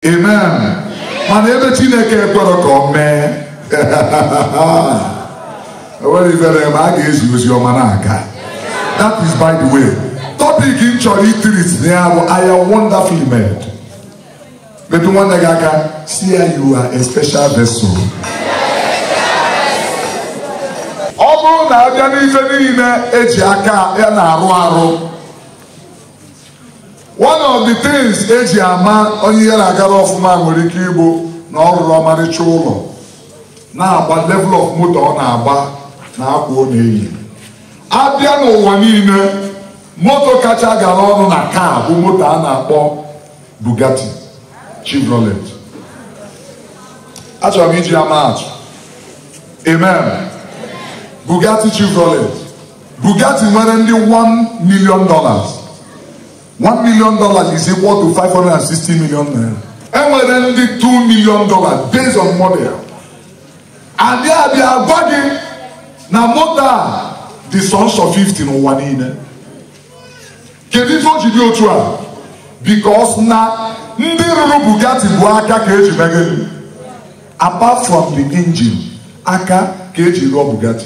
amen mana ebe chineke ekwerọ ka ọ mee enwere ifere ma a ga-ezi ozi ọma na-aga that is by the way topic m chọrọ ịtreat na ya bụ I am wonderfully made metụ nwanne gị aka sị ya you are a special vessel ọ bụrụ na abịa n'ife niile eji aka ya na-arụ arụ one of the things eji ama onye ihe na-agara ọfụma nwere ike ịbụ na ọ rụrụ ọmarịcha ụlọ na-agba level of moto ọ na-agba na akwa ọ na-eyi abịa n'ụwa niile moto kacha gara ọnụ na car bụ moto a na-akpọ Bugatti Chevrolet achọrọ m iji ama atụ amen Bugatti Chevrolet Bugatti nwere ndị 1 million dollars 1 million dollars is equal to 560 million naira enwere ndị 2 million dollars based on model ya and abịa gwa gị na moto a dị sọnsọ 50 n'ụwa niile kedu ife o ji dị otu a because na ndị rụrụ Bugatti bụ aka ka eji meghe apart from the engine aka ka eji rụọ Bugatti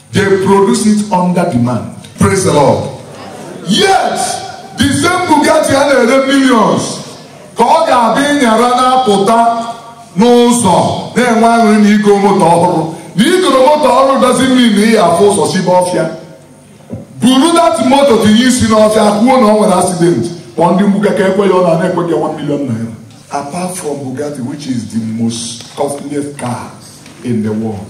They produce it under demand. Praise the Lord. Yet, the same Bugatti a na-ere millions ka ọ ga-adị ị nyara na-apụta n'ụzọ na-enwe aṅụrị na igo moto ọhụrụ na i goro moto ọhụrụ dozi mmiri na ihe hafụ ụzọ sibe ọfịa buru that moto tinye isi n'ọfịa kwuo na ọ nwere accident kpọọ ndị mgbuka ka ekwee ọnụ a na-ekwe ya 1 million naira apart from Bugatti which is the most costliest car in the world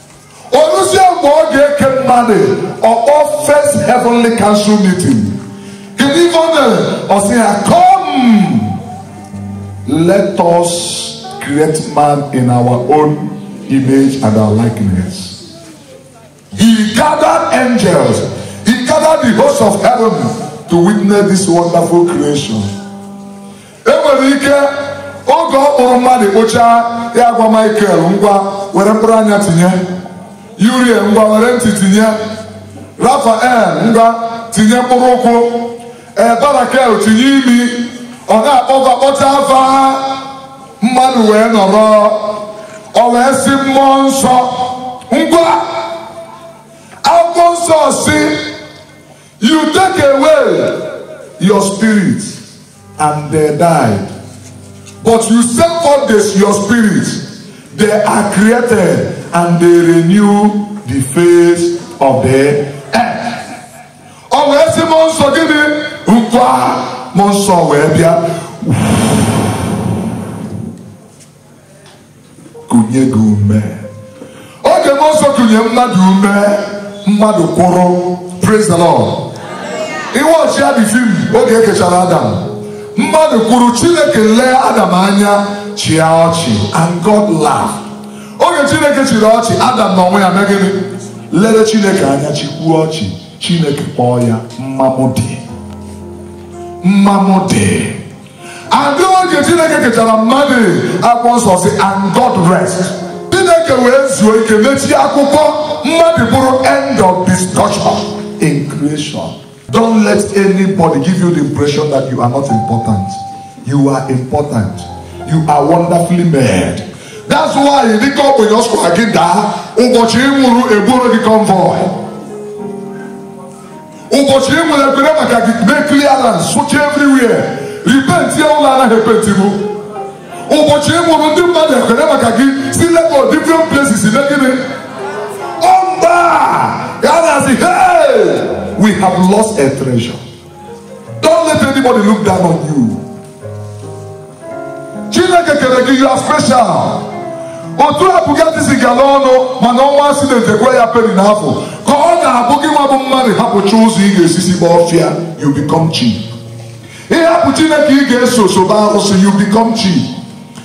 oruzie mgbe ọ ga-eke mmadụ ọkpọ first heavenly council meeting kedu ife o mere ọ sị ha come let us create man in our own image and our likeness he gathered angels he gathered the host of heaven to witness this wonderful creation enwere ike oge ọ kpụrụ mmadụ kpụchaa ya agwa Michael ngwa were mkpụrụ anya tinye Uriel ngwa were ntị tinye Raphael ngwa tinye mkpụrụ ụkwụ e Barachiel tinye imi ọ na-akpọba kpọcha afa mmadụ wee nọrọ ọ wee sị mmụọ nsọ ngwa akwụkwọ nsọ sị You take away your spirit and they died. But you send forth this, your spirit. They are created and they renew the face of the earth. Ọ wee sị mmụọ nsọ gịnị? Ngwa mmụọ nsọ wee bịa. kunye gị ume oge mmụọ nsọ kunye mmadụ ume mmadụ kwụrụ praise the lord iwe ọchịa dị fim oge e kechara adam mmadụ kwụrụ chineke lee adam anya chịa ọchị and god laugh oge chineke chịrị ọchị adam na onwe ya mee gịnị lere chineke anya chịkwuo ọchị chineke kpọọ ya mma mụ dị mma mụ dị and oge chineke kechara mmadụ akwụkwọ nsọ sị and god rest chineke wee zuo ike mechie akwụkwọ mmadụ bụrụ end of discussion in creation don't let anybody give you the impression that you are not important you are important you are wonderfully made that's why dịka ọ bụ yọsụ gị daa ụbọchị ị nwụrụ e buru gị convoy ụbọchị ị nwụrụ ekpere maka gị mee clearance sụchaa everywhere epentia ụlọ anaghị epentibu ụbọchị ị nwụrụ ndị mmadụ ekpere maka gị si lagos different places ime gịnị ọmba ya na-asị hey we have lost a treasure don't let anybody look down on you chineke kere gị ya special otu a bugatti si gara ọnụ mana o nwee accident e kwe ya peni na afụ ka ọ ga-abụ gịnwa bụ mmadụ hapụcha ụzọ ị ga-esi si gba ọfịa you become cheap ị hapụ chineke ị ga-eso sobe arụsị you become cheap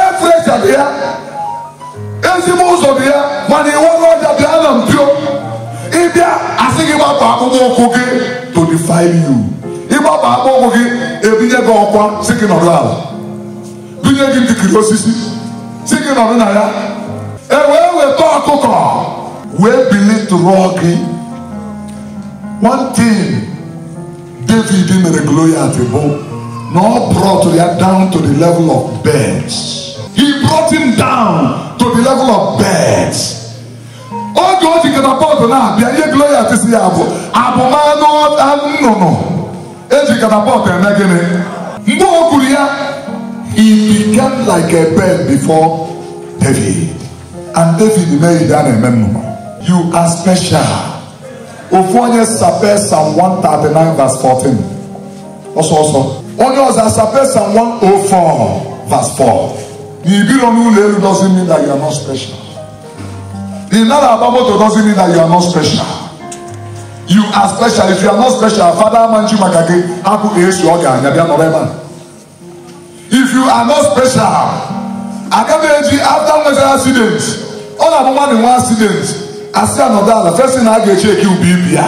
efrecha dị ya ezigbo ụzọ dị ya mana i were ọja bịa na mpio ị bịa a sị gị gbapụ akpụkpọ ụkwụ gị to define you ị gbapụ akpụkpọ ụkwụ gị e binye gị ọkwa sị gị nọdụ ala binye gị ndikiri osisi sị gị nọdụ na ya e wee weta ọkụkọ wee belittle gị one thing David mere Goliath bụ na ọ brought ya down to the level of birds. He brought him down to the level of birds. oge o ji catapult na-abịa ihe Goliath sị ya bụ abụ m anụ nnụnụ e ji catapult eme gịnị mgbe o kwuru ya he became like a bird before David and David mee ya ihe a na-eme nnụnụ. You are special. ofu onye sapee psalm 139 verse 14 ọsọ ọsọ onye ọzọ asape psalm 104 verse 4 na i biro n'ụlọ elu doesn't mean that you are not special ị nara agba moto doesn't mean that you are not special you are special if you are not special fada ama-eji maka gị apụghị esi ọ ga-anya bịa nọrọ ebe a if you are not special aga m eji after nwetara accident ọ na-abụ mmadụ nwee accident a sị ya nọdụ ala fesi na a ga-eche eke ube ibi ya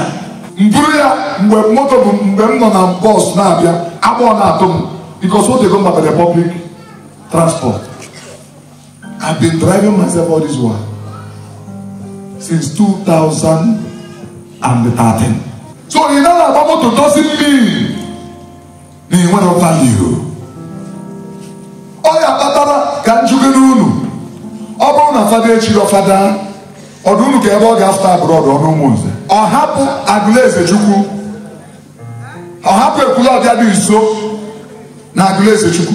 m buru ya mgbe moto bụ mgbe m nọ na bọs na-abịa agbọọ na-atụ m because o tego m bara public transport I've been driving myself all this while since 2013 so ị na-agba moto doesn't mean na ị nwere value ọ ya kpatara ka m jụkene unu ọ bụrụ na fada e chiri fada ọ dị unu ka ebe ọ ga-afụta abroad ọ n'Ụmụnze ọ hapụ Agụlụezechukwu ọ hapụ Ekwulọbịa dị nso na Agụlụezechukwu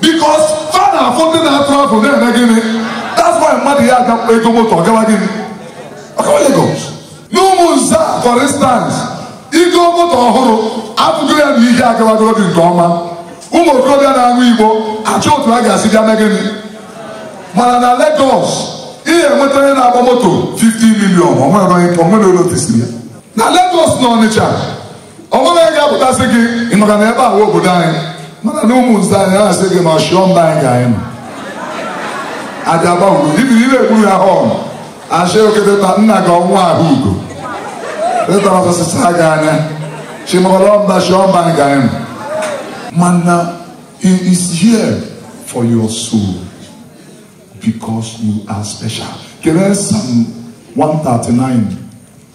because fa na-afụ ndị na-atụ afụ na-eme gịnị that's why mmadụ ya aga ego moto ọ gawa gịnị ọ gawa Lagos n'Ụmụnze for instance i goo moto ọhụrụ atụgo ya na ihe agawagoro gị nke ọma ụmụ okorobịa na-aṅụ igbo achọọ otu a ga-esi bịa mee gịnị mana na Lagos ị ga-enweta onye na-agba moto 15 million o nwere onye notisiri ya na Lagos na Ọnịcha o nwere onye ga-apụta sị gị ị makwa na ebe a wụ obodo anyị mana na Ụmụnze anyị na-asị gị na ọchịọ mba anyị ga anyị nọ aja agba ugo ibi ire egburu ha họn achị oketeta nna gị ọnwa ahụ ugo teta ọsọsịsa gị anya chimọrọ mba chịọ mba anyị ga anyị nọ mana he is here for your soul because you are special. Kere Psalm 139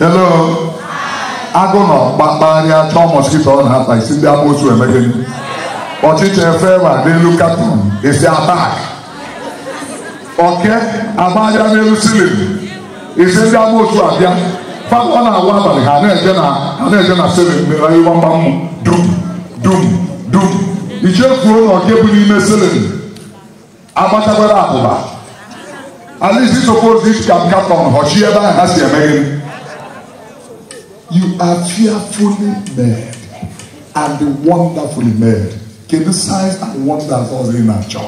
hello agụ nọ kpakparịa chọọ mosquito ọ na-ata ị sị ndị amoosu emee gịnị ọchịcha efeere n'elu carton ị sị attack oke agbaara n'elu ceiling ị sị ndị amoosu abịa fam ọ na-awụ abalị ha na-eje na ha na-eje na ceiling mere iwa mgbamụ dum dum dum i chefuo na oke bụ n'ime ceiling agbachakwara abụba at least it's supposed this can come from Hoshi ebe ahụ ha si eme gịnị you are fearfully made and wonderfully made kedu signs and wonders ọzọ ị na-achọ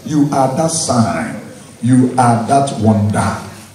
you are that sign you are that wonder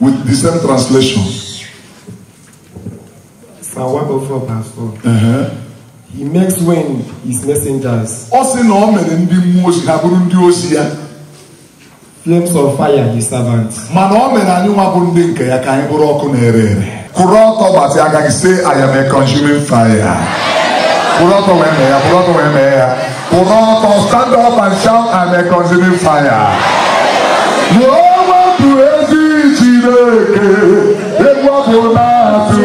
With the same translation. Uh-huh. He makes winds his messengers. Ọ sị na o mere ndị mmụọ ozi ha bụrụ ndị ozi ya. Flames of fire his servants. Mana o mere anyị nwa bụ ndị nke ya ka anyị bụrụ ọkụ na-ere ere. kwụrụ ọtọ gbatịa aka gị say I am a consuming fire kwụrụ ọtọ wee mee ya kwụrụ ọtọ wee mee ya kwụrụ ọtọ stand up and shout I am a consuming fire Yehova bụ ezi Chineke egwu ọ bụ na-atụ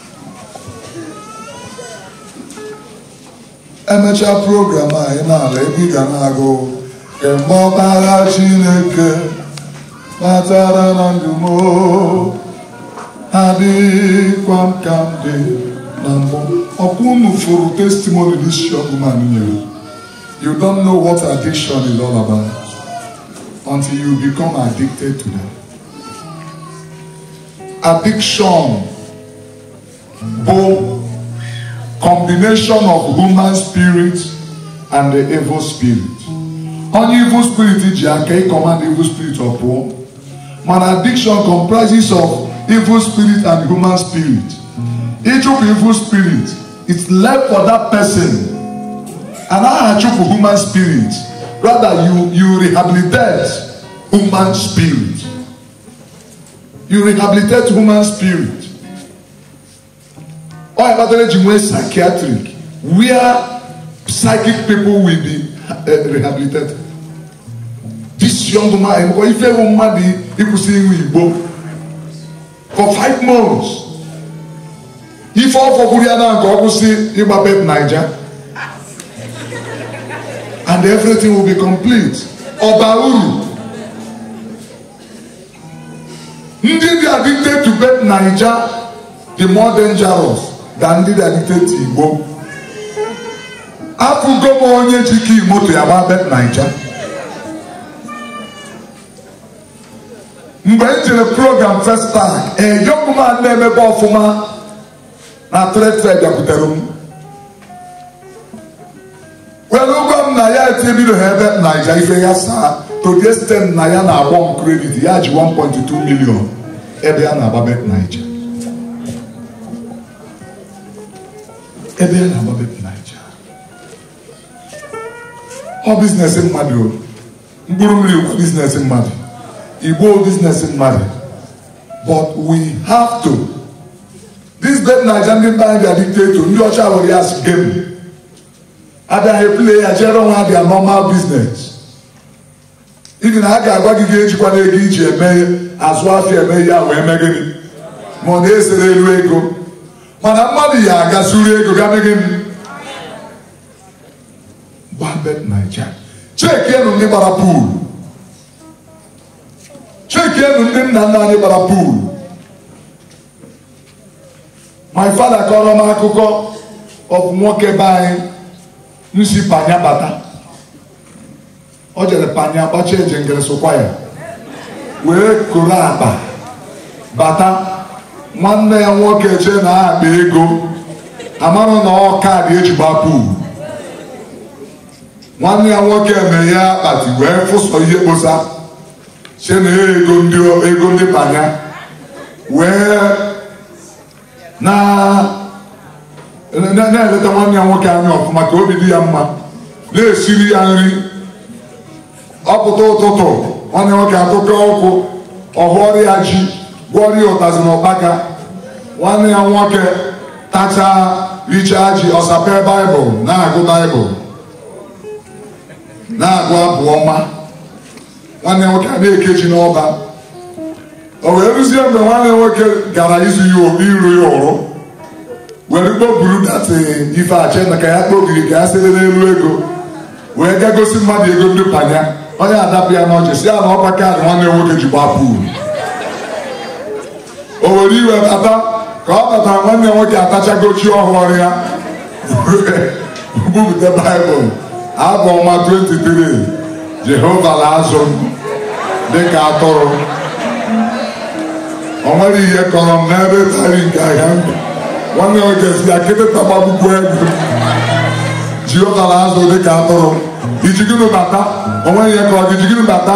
emechaa program a ị na-ala ebe ị ga na-agụ mgbe ọkpara chineke batara na ndụ m adịghịkwa m ka m dị na mbụ ọkwa unu fụrụ testimony this young man nyere you don't know what addiction is all about until you become addicted to them addiction bụ combination of human spirit and the evil spirit onye evil spirit ji aka ịkọmand evil spirit ọ pụọ mana addiction comprises of evil spirit and human spirit ịchụpụ evil spirit it's left for that person and aha chụpụ human spirit rather you you rehabilitate human spirit you rehabilitate human spirit ọ ya kpatara eji nwee psychiatric where psychic people will be eh, rehabilitated this young man nkọ ife bụ mmadụ ịkwụsị ịṅụ igbo for five months ife ọ fọkwuru ya na nke ọ kwụsị ịgba bet naija and everything will be complete ọ baa uru ndị dị addicted to bet naija dị more dangerous than ndị dị addicted to igbo afụgo m onye ji key moto ya gbaa bet naija mgbe m jere program first time a young man na-emebe ọfụma na trade fair bịakwutere m were gwa m na ya etinyebido ha bet naija ife ya as at today site na ya na-agwa m credit ya ji 1.2 million ebe ya na-agba bet naija ebe ya na-agba bet naija ọ business mmadụ o mkpụrụ mmiri bụ business mmadụ igbo business mmadụ but we have to this bet naija ndị mba anyị dị addicted to ndị ọcha were ya as game ha bịa play ya jere onwe ha their normal business even ha ga-agwa gị gị ejikwana ego i ji eme azụ afịa eme ya wee mee gịnị ma ọ na-esere elu ego mana mmadụ ya aga zuru ego ga mee gịnị gbaa bet naija chekienụ ndị gbara pool chekienụ ndị nna nna anyị gbara pool my father kọrọ m akụkọ of nwoke be anyị si panya bata o jere panya agbacha eje ngere sokwa ya wee koro akpa bata nwanne ya nwoke chee na akpa ego amarọ na ọ kaadị eji agba pool nwanne ya nwoke mere ya akpati wee fụ sọ ihe kposa sị na ego ndị ego ndị panya wee na na-eleta nwanne ya nwoke anya ọfụma ka obi dị ya mma na-esiri ya nri ọ pụta ụtụtụ nwanne nwoke atụka ụkwụ ọ hụọrọ ya ji gwọọrọ ya ụtazị na ụkpaka nwanne ya nwoke tachaa richaa ji ọ sapee baịbụl na-agụ baịbụl na-agụ abụ ọma nwanne nwoke a na-ekechi n'ọba o wee ruzie mgbe nwanne nwoke gara izu ya obi iru ya ụrụ were kpoburu that ife ache na ka ya kpobiri ka ya sere n'elu ego wee ga gosi mmadụ ego ndị panya onye a dapụ ya n'ọchị si ya na ọ bụ kaadị nwanne nwoke ji gba pool o were iwe bata ka ọ bata nwanne nwoke atachago ji ọ hụụrụ ya bupụta baịbụl abụ ọma 23 jehova na-azụ m dịka atụrụ o nwere ihe kọrọ m n'ebe ịta nri nke ahịhịa ndụ nwanne nwoke si ya kịtịkpa gbagbukwe gị jehova na-azụ dịka atụrụ i ji gịnị bata o nwere ihe kọrọ gị i ji gịnị bata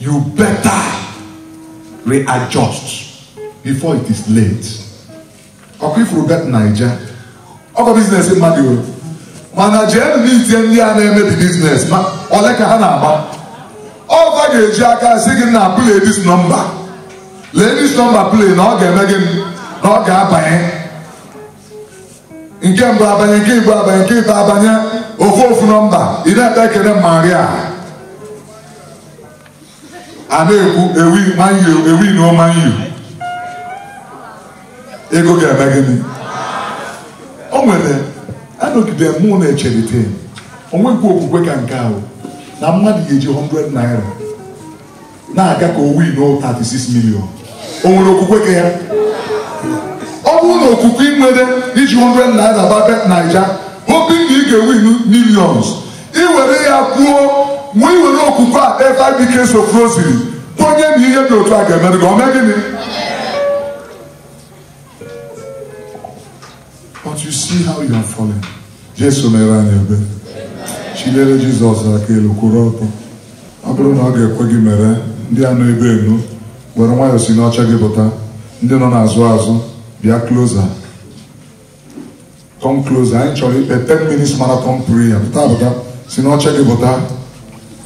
you better readjust before it is late ọ kwa ị fụrụ bet naija ọ kwa biznes mmadụ nwere mana jee n'itie ndị a na-eme the biznes ma ole ka ha na-agba ọva ga-eji aka si gị na play this number lee this number play na ọ ga-eme gịnị na ọ ga-abanye nke mbụ abanye nke ịbụọ abanye nke ịtọ abanye ọ fọ ofu nọmba ị na-ekpe ekele maria a na-ekwu ewin man u ewin na man u ego ga-eme gịnị o nwere anọgide mụ na-echelite o nwekwa okwukwe ka nke ahụ na mmadụ ga-eji 100 naira na-aga ka o win o 36 million o nwere okwukwe ka ya ọ bụrụ na okwukwe ị nwere iji 100 naira gba bet naija hoping na ị ga-ewin millions i were ya kwuo ma i were okwukwe a kpee five decades of rosary kwenye na ihe dị otu a ga-emere gị ọ mee gịnị But you see how you are falling. Jesu meere anyị ebere. Chiliere Jizọs aka elu kwụrụ ọtọ. Ọ bụrụ na ọ ga-ekwe gị mere ndị a nọ ebe enu were nwayọọ si n'oche gị pụta ndị nọ n'azụ azụ bịa closer come closer anyị chọrọ ikpe 10 minutes marathon prayer pụta pụta si n'oche gị pụta